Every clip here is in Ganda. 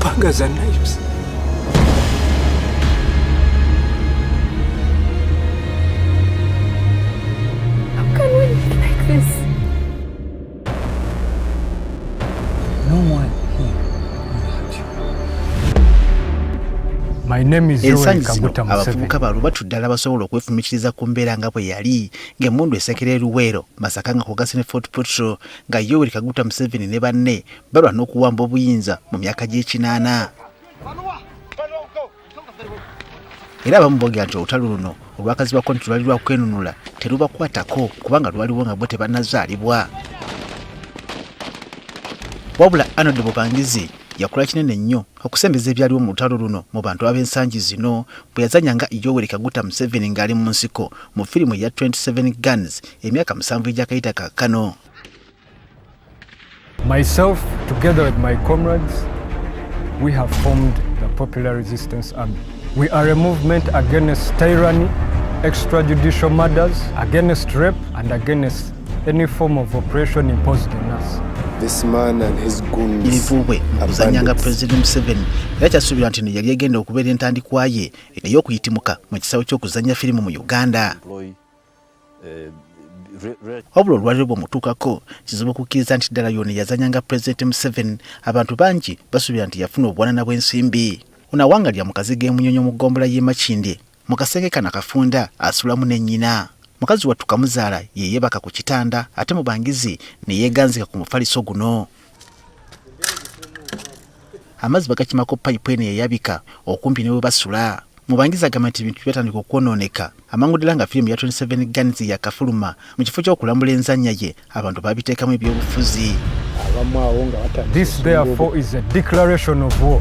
Panga za knives. ensangi zino abavubuka ba lubatu ddala basobola okwefumikiriza ku mbeera nga bwe yali ng'emmundu esekera eruweero masaka nga kwogasi ne fort petro nga yoweri kaguta museveni ne banne balwana okuwamba obuyinza mu myaka gy'ekinaana era abamu boogera nti olutalo luno olwakazibwako nti lwali lwakwenunula terubakwatako kubanga lwaliwo nga bwe tebanazaalibwa wabula anod bubangizi yakola kinene nnyo okusembeza ebyaliwo mu lutalo luno mu bantu ab'ensangi zino bwe yazanya nga yoweri kaguta museveni ng'ali mu nsiko mu firimu eya 27 guns emyaka musanvu egyakayita kaakano Myself, together with my comrades, we have formed the Popular Resistance Army. We are a movement against tyranny, extrajudicial murders, against rape, and against any form of oppression imposed on us. This man and his goons ilivuubwe mukuzanyanga president museveni era kyasuubirwa nti no yali egenda okubeera entandikwa ye ey'okuyitimuka mu kisaawe ky'okuzanya firimu mu uganda wabula olwaliro bwemutuukako kizibu okukkiriza nti ddala yoona yazanya nga pulezidenti museveni abantu bangi basuubira nti yafuna obuwanana bw'ensimbi ono awanga lya mukazi g'emunyonyo mu ggombola y'e makindye mu kasenge kano akafunda asulamu ne nnyina mukazi wattu kamuzaala yeyeebaka ku kitanda ate mu bangizi ne yeeganzika ku mufaliso guno amazzi bagakimako payipu eno eyayabika okumpi ne bwe basula mubangiza agamba nti ebintu byatandika okwonooneka amangu ddala nga firimu ya 27 guns yakafuluma mu kifo ky'okulambula enzannya ye abantu babiteekamu ebyobufuzi This therefore is a declaration of war.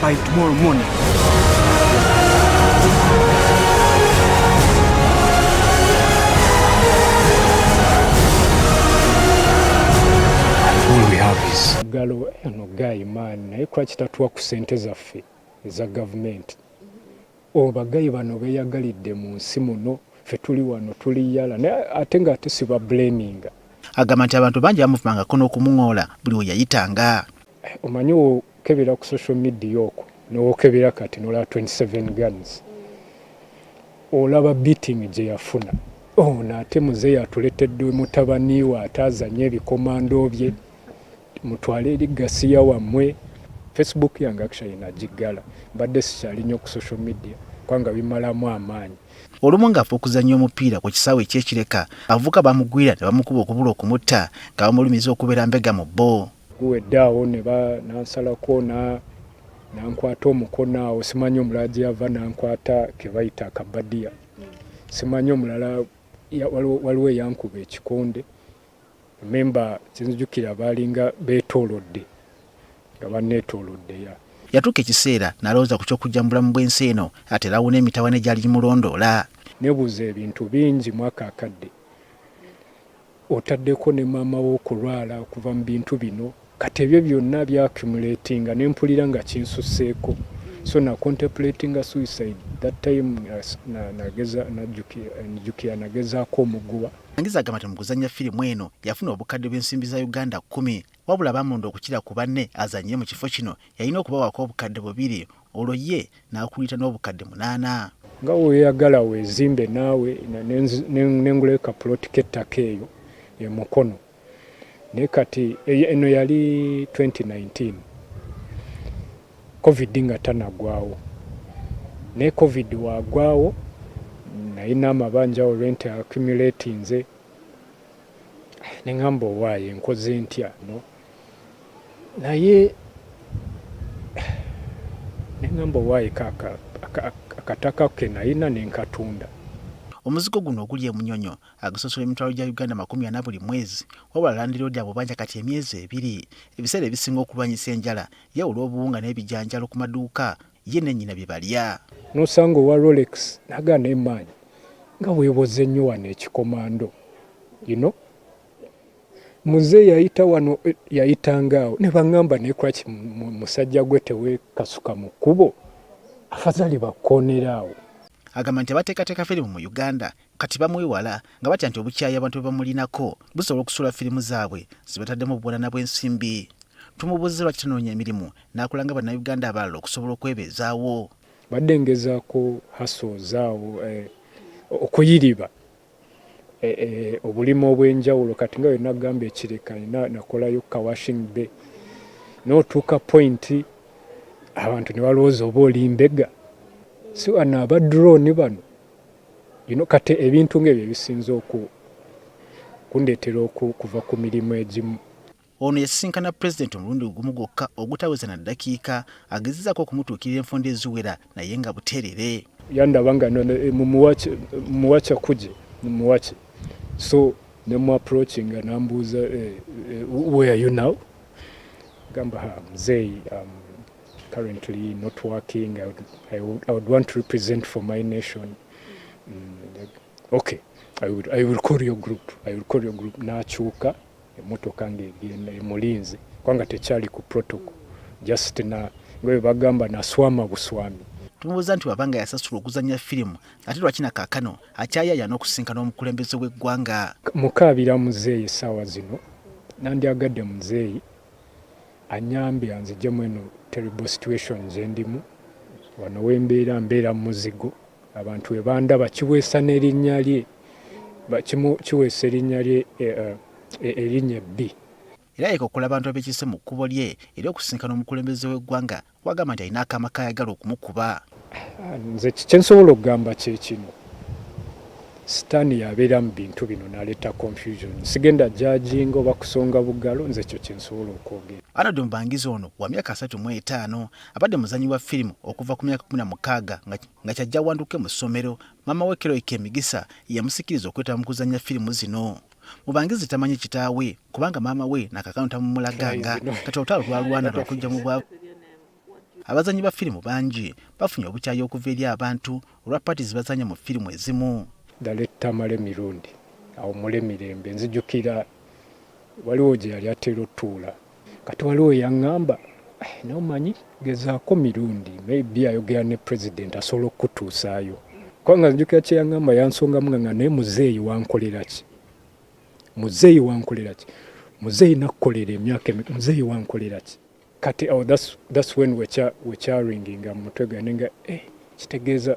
by tomorrow morning. galo eno gayi maani naye lwaki tatuwa ku sente zaffe eza gavumenti obagayi bano beyagalidde mu nsi muno fe tuli wano tuli yala naye ate nga ate siba blaminga agamba nti abantu bangi bamuvumangako n'okumuŋoola buli we yayitanga omanyi okebera ku social media okwo nowokebera kati nolaba 27 guns olaba beating gyeyafuna ono ate muzeeyi atuletedde mutabaniwe ate azanye ebikomando bye mutwale eri gasiya wammwe facebook yange actually nagiggala mbadde sikyali nnyo ku social media kubanga bimalamu amaanyi olumu ng'ava okuzannya omupiira ku kisaawe ekyekireka abavubuka bamugwira ne bamukuba okubula okumutta nga bamulumiza okubeera mbega mu bbo guwedde awo nansalako nankwata omukono awo simanyi omulala gye yava nankwata kebayita akabadiya simanyi omulala waliwo eyankuba ekikonde memba kyenzijukira baalinga beetoolodde nga banneetoolodde ya yatuuka ekiseera nalowooza ku ky'okujja mu bulamu bw'ensi eno ate lawuna emitawana egyali gimulondoola nebuuza ebintu bingi mwaka akadde otaddeko ne maama wo okulwala okuva mu bintu bino kati ebyo byonna bya accumulatinga ne mpulira nga kinsusseeko so na contemplatinga suicide that time nageza najjukira nagezaako omuguwa Angiza agamba nti mu kuzannya firimu eno yafuna obukadde bw'ensimbi za Uganda kkumi wabula baamulonda okukira ku banne azannye mu kifo kino yalina okubawaako obukadde bubiri olwo ye n'akulita n'obukadde munaana. Nga weeyagala weezimbe naawe ne ngulayo kapuloti k'ettaka eyo e Mukono naye kati eno yali 2019 covid nga tanagwawo naye covid wagwawo nalina amabanja olwente accumulatinze nengamba owaaye nkoze ntya no naye nengamba owaye akataka ke nayina nenkatunda Omuzigo guno oguli e Munyonyo agusosola emitwalo gya Uganda makumi ana buli mwezi wabula landiroodi abubanja kati emyezi ebiri. Ebiseera ebisinga okulwanyisa enjala yawula obuwunga n'ebijanjalo ku maduuka ye ne nnyina bye balya. N'osanga owa Rolex nagaana emaanyi nga weeboze nnyo wano ekikomando you know? Muze yayita wano eh, yayitanga awo ne bangamba ne crutch musajja gwe tewekasuka mu kkubo afazali bakonera awo agamba nti abateekateeka firimu mu uganda kati bamwewala nga batya nti obukyayi abantu bwe bamulinako busobola okusuula firimu zaabwe zibataddemu obuwanana bw'ensimbi tumubuuze lwaki tanoonya emirimu n'akola nga bannayuganda abalala okusobola okwebeezaawo badde ngezaako hasozaawo eh, okuyiriba e, e, obulimu obw'enjawulo kati nga yonna gamba ekireka ina nakolayo ka washing bay n'otuuka pointi abantu ne balowooza oba oli mbega si wano aba drone bano you know, kati ebintu ng'ebyo ebisinza oku kundeetera okuva ku mirimu egimu Ono yasisinkana pulezidenti omulundi ogumu gwokka ogutaweza na ddakiika, agezezaako okumutuukirira enfunda eziwera naye nga buteerere. Yandaba nga eh, mumuwa kyakuje mumuwaki so ne mu approachinga nambuuza eh, eh, where are you now gamba ha mzeeyi um, currently not working I would, I would, I would want to represent for my nation mm, okay I will, I will call your group I will call your group nakyuka emotoka ng'egenda emulinze kubanga tekyali ku protocol just na nga bwe bagamba naswama buswami tumubuuza nti wabanga yasasula okuzanya firimu ate lwaki na kaakano akyayaya n'okusinkana omukulembeze w'eggwanga mukaabira muzeeyi essaawa zino nandyagadde muzeeyi anyambe anzijemu eno terrible situation gyendimu wano wembeera mbeera muzigo abantu we bandaba kiweesa n'erinnya lye kimu kiweesa erinnya lye eh, eh, eh, erinnya ebbi era yekokola abantu abekise mu kkubo lye era okusisinkana omukulembeze w'eggwanga wagamba nti alina akaama kayagala okumukuba nze kyensobola okugamba kyekino sitaani yabeera mu bintu bino naleeta confusion sigenda jajinga oba kusonga bugalo nze ekyo kyensobola okwogera anod mubangizi ono wa myaka asatu mu etaano abadde muzanyi wa firimu okuva ku myaka kumi na mukaaga nga nga kyajja awanduke mu ssomero maama we Keroy Kemigisa yamusikiriza okwetaba mu kuzannya firimu zino mubangizi tamanyi kitaawe kubanga maama we nakakano tamumulaganga kati olutalo lwalwana lwakujja mu bwavu abazanyi ba firimu bangi bafunye obukyayi okuva eri abantu olwa paati zibazanya mu firimu ezimu dalettamale mirundi awumule mirembe nzijukira waliwo gye yali atera otuula Kati waliwo eyangamba eh, naye omanyi gezaako mirundi maybe ayogera ne president asobola okukutuusaayo kubanga nzijukira kyeyangamba yansongamu nga nga naye muzeeyi wankoleraki muzeeyi wankoleraki muzeeyi nakukolera emyaka muzeeyi wankoleraki kati awo oh, that's, that's when wecharinginga mu mutwe gwange nga eh, kitegeeza